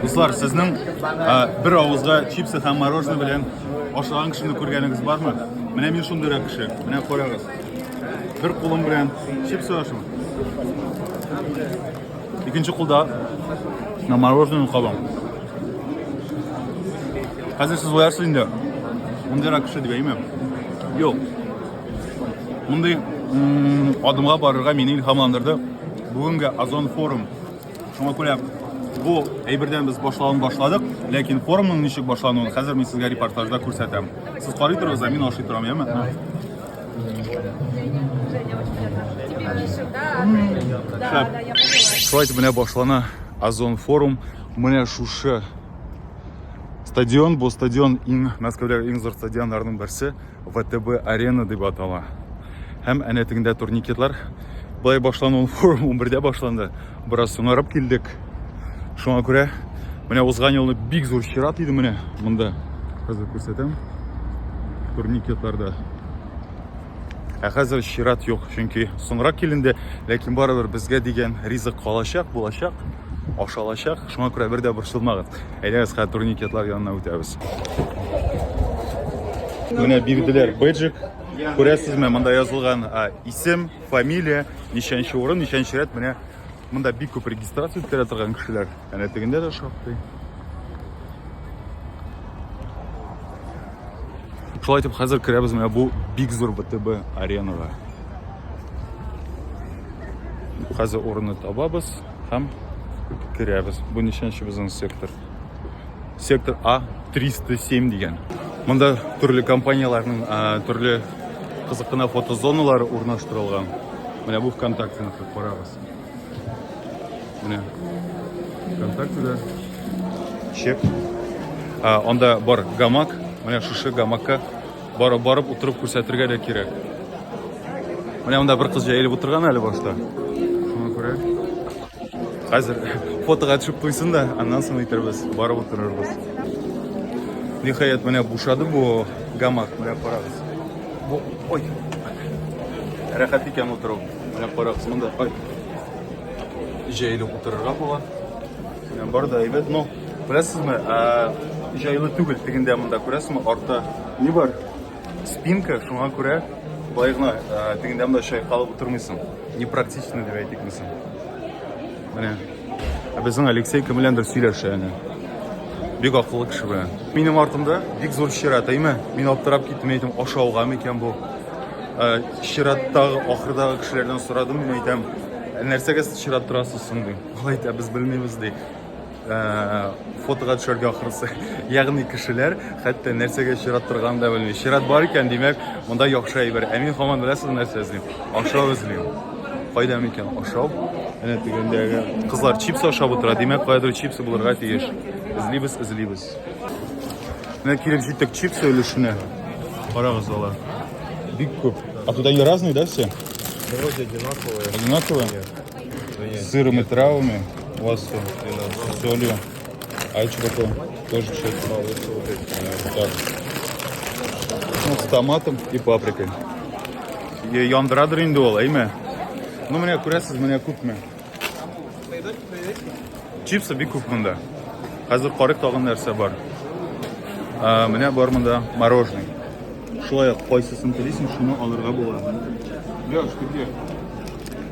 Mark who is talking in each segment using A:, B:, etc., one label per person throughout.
A: Дуслар, сезнең бер авызга чипсы һәм мороженое белән ашаган кешене күргәнегез бармы? Менә мин шундый кеше. Менә карагыз. Бер кулым белән чипсы ашым. Икенче кулда на мороженое кабам. Хәзер сез уярсыз инде. Мондый кеше дип әйме? Юк. Мондый адымга барырга мине илһамландырды. Бүгенге Озон форум Шуңа күрә бу әйбердән без башлавын башладык, ләкин форумның ничек башлануын хәзер мин сезгә репортажда күрсәтәм. Сез карый торыгыз, ә мин ашый торам, яме? Шулай итеп менә башлана Озон форум. Менә шушы стадион, бу стадион иң Мәскәүдәге иң зур стадионнарның берсе. ВТБ Арена дип атала. Һәм әнә тегендә турникетлар. Былай башлану форум 11-дә башланды. Бераз соңарып килдек. Шуңа күрә менә узган елны бик зур чират иде менә монда. Хәзер күрсәтәм. Турникетларда. Ә хәзер чират юк, чөнки соңрак киленде, ләкин барыбер безгә дигән ризык калачак, булачак. ашалачак. Шуңа күрә бер дә борчылмагыз. Әйдәгез, хәзер турникетлар янына үтәбез. Менә бирделәр бэджик. Күрәсезме, монда язылган исем, фамилия, ничәнче урын, ничәнче рәт. Менә монда бик күп регистрация үткәрә торган кешеләр. Әнә тегендә дә шактый. Шулай итеп, хәзер керәбез менә бу бик зур БТБ аренага. Хәзер урынны табабыз. һәм керәбез. Бу ничәнче безнең сектор? Сектор А 307 дигән. Монда төрле компанияләрнең төрле кызыкына фотозоналары урнаштырылган. Менә бу ВКонтактены карагыз. Менә ВКонтактеда чек. Анда бар гамак. Менә шушы гамакка Барып, барып утырып күрсәтергә дә кирәк. Менә монда бер кыз җәелеп утырган әле башта. Шуңа күрә хәзер фотога төшеп куйсын да, аннан соң әйтербез, барып утырырбыз. Ниһаять, менә бушады бу гамак, менә карагыз. Бу, ой. Рәхәт икән утыру. Менә карагыз, монда ой. Җәелеп утырырга була. Бар да әйбәт, но күрәсезме, җайлы түгел тегендә монда күрәсезме, арты ни бар? Спинка, шуңа күрә болай гына тегендә монда чайкалып утырмыйсың. Непрактично дип әйтик мисың. Менә. Ә безнең Алексей кем беләндер сөйләшә әнә. Бик акыллы кеше белән. Минем артымда бик зур чират, әйме? Мин аптырап киттем, әйтем, ашауга микән бу? Чираттагы, ахырдагы кешеләрдән сорадым, мин әйтәм, нәрсәгә сез чират торасыз соң, дим. Гайта без белмибез ди. Э, фотога төшәргә ахрысы. Ягъни кешеләр хәтта нәрсәгә чират торганын да белми. Чират бар икән, димәк, монда яхшы әйбер. Ә мин хаман беләсез нәрсә эзлим? Ашау эзлим. Кайда микән ашау? Әнә тигәндәге кызлар чипс ашап утыра, димәк, кайдыр чипсы булырга тиеш. Эзлибез, эзлибез. Менә килеп җиттек чипсы өлешенә. Карагыз алар. Бик күп. А туда не разные, да, все? Вроде
B: одинаковые. Одинаковые? Нет.
A: С
B: сыром и травами
A: у вас все. С солью. А что такое? Тоже чек. Так. Ну, с томатом и паприкой. Е- Яндырадыр инде ул, әйме? Ну, менә күрәсез, менә күпме. Чипсы бик күп монда. Хәзер карык тагын нәрсә бар. Ә, менә бар монда мороженое. Шулай ук кайсысын телисең, шуны алырга була. Леш, ты где?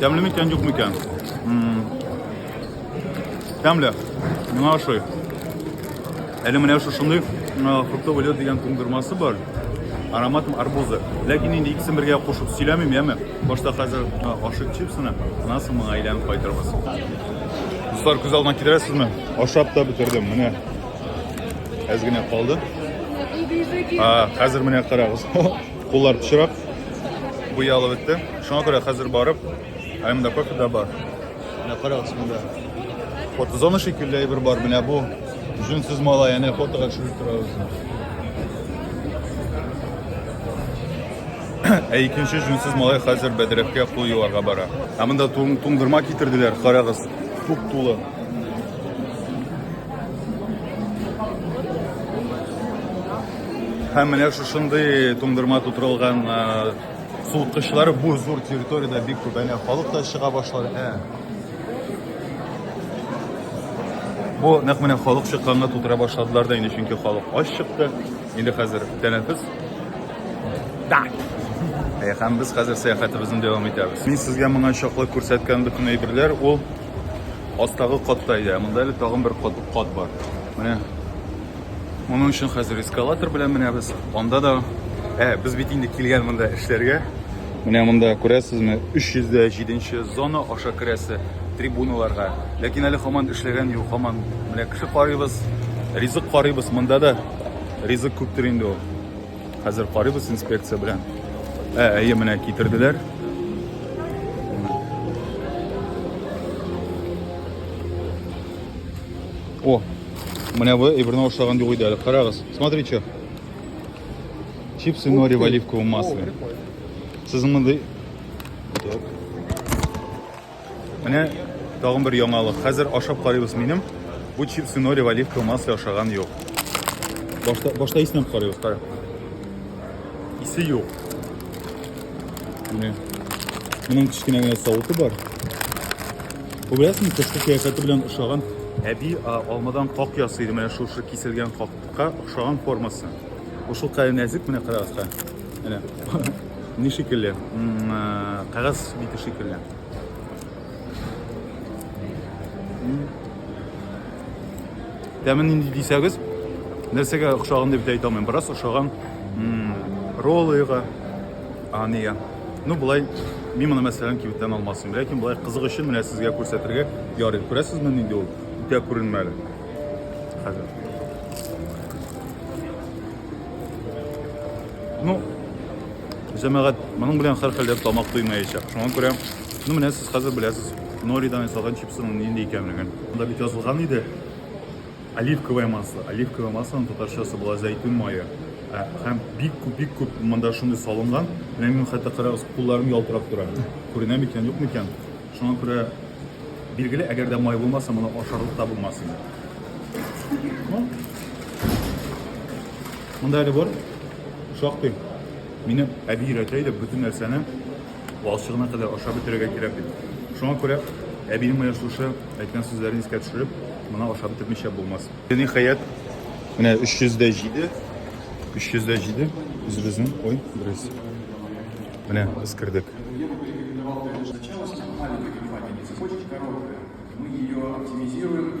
A: Тәмле микән, юк микән? Тәмле. Миңа ошый. Әле менә шушындый фруктовый лед дигән туңдырмасы бар. Аромат арбузы. Ләкин инде икесен бергә кушып сөйләмим, яме. Башта хәзер ашык чипсыны, аннан соң моңа әйләнеп кайтырбыз. Дуслар, күз алдына китерәсезме? Ашап та бетердем. Менә әз генә калды. Хәзер менә карагыз. Куллар пычырак, буялып бетте. Шуңа күрә хәзер барып, ә монда кофе дә бар. Менә карагыз монда. Фотозона шикелле әйбер бар. Менә бу җүнсез малай, әнә фотога төшереп торабыз. Ә икенче җүнсез малай хәзер бәдрәфкә кул юарга бара. Ә монда туңдырма китерделәр, карагыз, тук тулы. Һәм менә шушындый туңдырма тутырылган суыткычлар бу зур территориядә бик күп. Әнә халык та чыга башлады. Ә. Бу нәкъ менә халык чыкканга тутыра башладылар да инде, чөнки халык ач чыкты. Инде хәзер тәнәфес. Да. Ә һәм без хәзер сәяхәтебезне дәвам итәбез. Мин сезгә моңа чаклы күрсәткән бөтен әйберләр ул астагы катта иде. Монда әле тагын бер кат, кат бар. Менә Моның өчен хәзер эскалатор белән менәбез. Анда да, ә, без бит инде килгән монда эшләргә. Менә монда күрәсезме, 307 зона аша керәсе трибуналарга. Ләкин әле хаман эшләгән юк, хаман менә кеше карыйбыз, ризык карыйбыз. Монда да ризык күптер инде ул. Хәзер карыйбыз инспекция белән. Ә, әйе, менә китерделәр. О, Менә бу иберне ошаган юк иде әле. Карагыз. Смотри, что. Чипсы нори в оливковом масле. Сез мондый Менә тагын бер яңалык. Хәзер ашап карыйбыз минем. Бу чипсы нори в оливковом масле ашаган юк. Башта башта исенә карыйбыз, кара. Исе юк. Менә. Моның кечкенә генә савыты бар. Күрәсең, тышкы кыяфәте белән ошаган. Әби алмадан как ясый иде, менә шушы киселгән какка ошаган формасы. Бу шул кадәр нәзек, менә карагызка. Менә ни шикелле, кәгазь бите шикелле. Тәмен нинди дисәгез, нәрсәгә охшаган дип әйтә алмыйм. Бераз охшаган роллыга, а нигә? Ну, болай, мин моны мәсәлән кибеттән алмасым, ләкин болай кызык өчен менә сезгә күрсәтергә ярый. Күрәсезме нинди ул? Үтә күренмәле. Хәзер. Ну, җәмәгать, моның белән хәр хәлдә тамак туймаячак. Шуңа күрә, ну менә сез хәзер беләсез, Норидан ясалган чипсының нинди икәнлеген. Монда бит язылган иде. Оливковое масло. Оливковое маслоның татарчасы була зәйтүн мае. Ә, һәм бик күп, бик күп монда шундый салынган. Менә минем хәтта карагыз, кулларым ялтырап тора. Күренә микән, юк микән? Шуңа күрә билгеле, әгәр дә май булмаса, моны ашарлык та булмас инде. Монда әле бар. Шактый. Минем әби өйрәтә иде бөтен нәрсәне Валчыгына кадәр ашап бетерергә кирәк бит. Шуңа күрә әбинең менә шушы әйткән сүзләрен искә төшереп, моны ашап бетермичә булмас. Ниһаять, менә 300 дә җиде. 300 дә җиде. Үзебезнең, ой, дөрес. Менә эскердек. Сначала сама маленькая компания не захочет короткая.
C: Мы ее оптимизируем.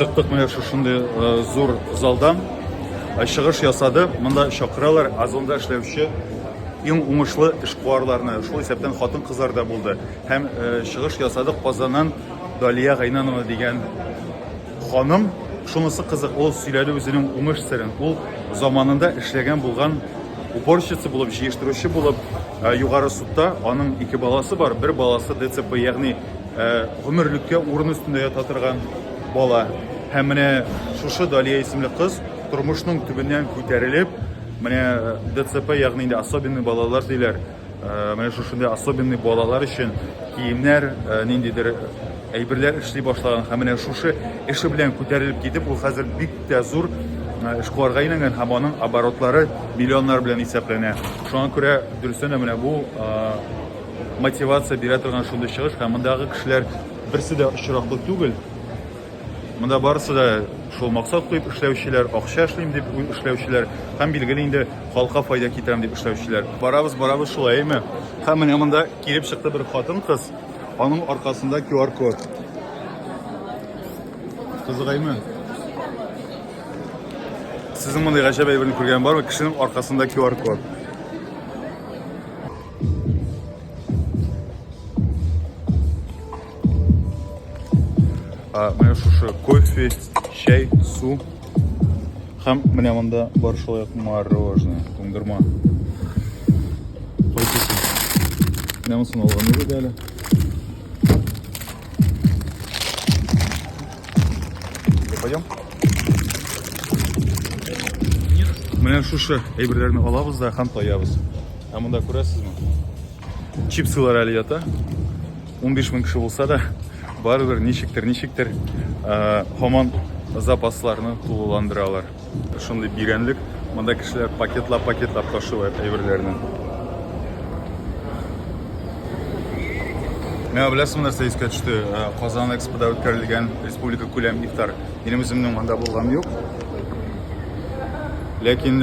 A: Чыктык менә шушындый э, зур залдан. Э, чыгыш ясады. Монда чакыралар Озонда эшләүче иң уңышлы эшкуарларны. Шул исәптән хатын-кызлар да булды. Һәм э, чыгыш ясады Казаннан Далия Гайнанова дигән ханым, шунысы кызык, ул сөйләде үзенең уңыш серен. Ул заманында эшләгән булган уборщица булып, җыештыручы булып, э, югары судта аның ике баласы бар, бер баласы ДЦП, ягъни э, гомерлеккә урын өстендә ята торган бала. Һәм менә шушы Далия исемле кыз тормышның төбеннән күтәрелеп, менә э, ДЦП, ягъни инде особенный балалар диләр, Менә шушындый особенный балалар өчен киемнәр, ниндидер әйберләр эшли башлаган һәм менә шушы эше белән күтәрелеп китеп, ул хәзер бик тә зур эшкуарга әйләнгән һәм аның оборотлары миллионнар белән исәпләнә. Шуңа күрә дөрестән дә менә бу мотивация бирә торган шундый чыгыш һәм мондагы кешеләр берсе дә очраклы түгел. Монда барысы да шул максат куеп эшләүчеләр, акча эшлим дип эшләүчеләр һәм билгеле инде халыкка файда китерәм дип эшләүчеләр. Барабыз, барабыз шулай, әйме? Һәм менә монда килеп чыкты бер хатын-кыз, аның аркасында QR-код. Кызыгаймы? Сезнең мондый гаҗәп әйберне күргән бармы? Кешенең аркасында QR-код. А менә шушы кофе, чәй, су һәм менә монда бар шулай ук мороженое, туңдырма. Кайтысын. Менә монысын алган идек әле. Пойдем. Менә шушы әйберләрне алабыз да һәм таябыз. Ә монда күрәсезме? Чипсылар әле ята. 15 мең кеше булса да, барыбер ничектер, ничектер һаман запасларны тулыландыралар. Шундый бирәнлек, монда кешеләр пакетлап-пакетлап ташыйлар әйберләрне. Мә беләсең нәрсә искә төште? Казан экспода үткәрелгән республика күләм ифтар. Минем үземнең монда булган юк. Ләкин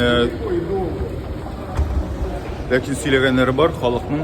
A: ләкин сөйләгәннәре бар халыкның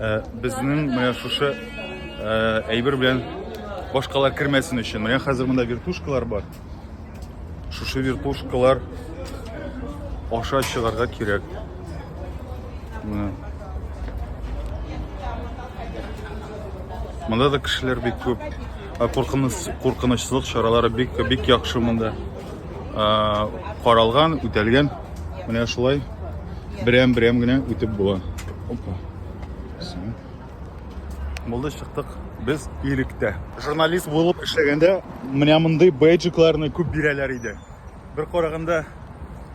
A: Ә, безнең менә шушы ә, әйбер белән башкалар кермәсен өчен. Менә хәзер монда вертушкалар бар. Шушы вертушкалар аша чыгарга кирәк. Менә. Монда да кешеләр бик күп. Ә, Куркыныч, куркынычсызлык чаралары бик бик яхшы монда. Ә, Каралган, үтәлгән. Менә шулай берәм-берәм генә үтеп була. Опа. Булды чыктык. Без иректә. Журналист булып эшләгәндә менә мондый бейджикларны күп бирәләр иде. Бер караганда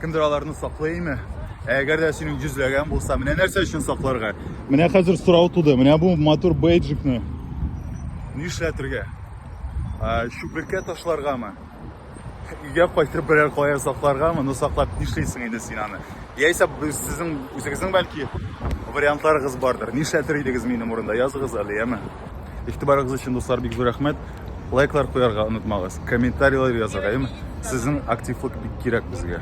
A: кемдер аларны саклый име? Ә әгәр дә синең йөзләгән булса, менә нәрсә өчен сакларга? Менә хәзер сорау туды. Менә бу матур бейджикны нишләтергә? Чүплеккә ташларгамы? Өйгә кайтып берәр кая сакларга, моны саклап нишлисең инде син аны? Яисә сезнең үзегезнең бәлки вариантларыгыз бардыр. Нишләтер идегез минем урында? Языгыз әле, яме. Игътибарыгыз өчен, дуслар, бик зур рәхмәт. Лайклар куярга онытмагыз, комментарийлар язарга, яме. Сезнең активлык бик кирәк безгә.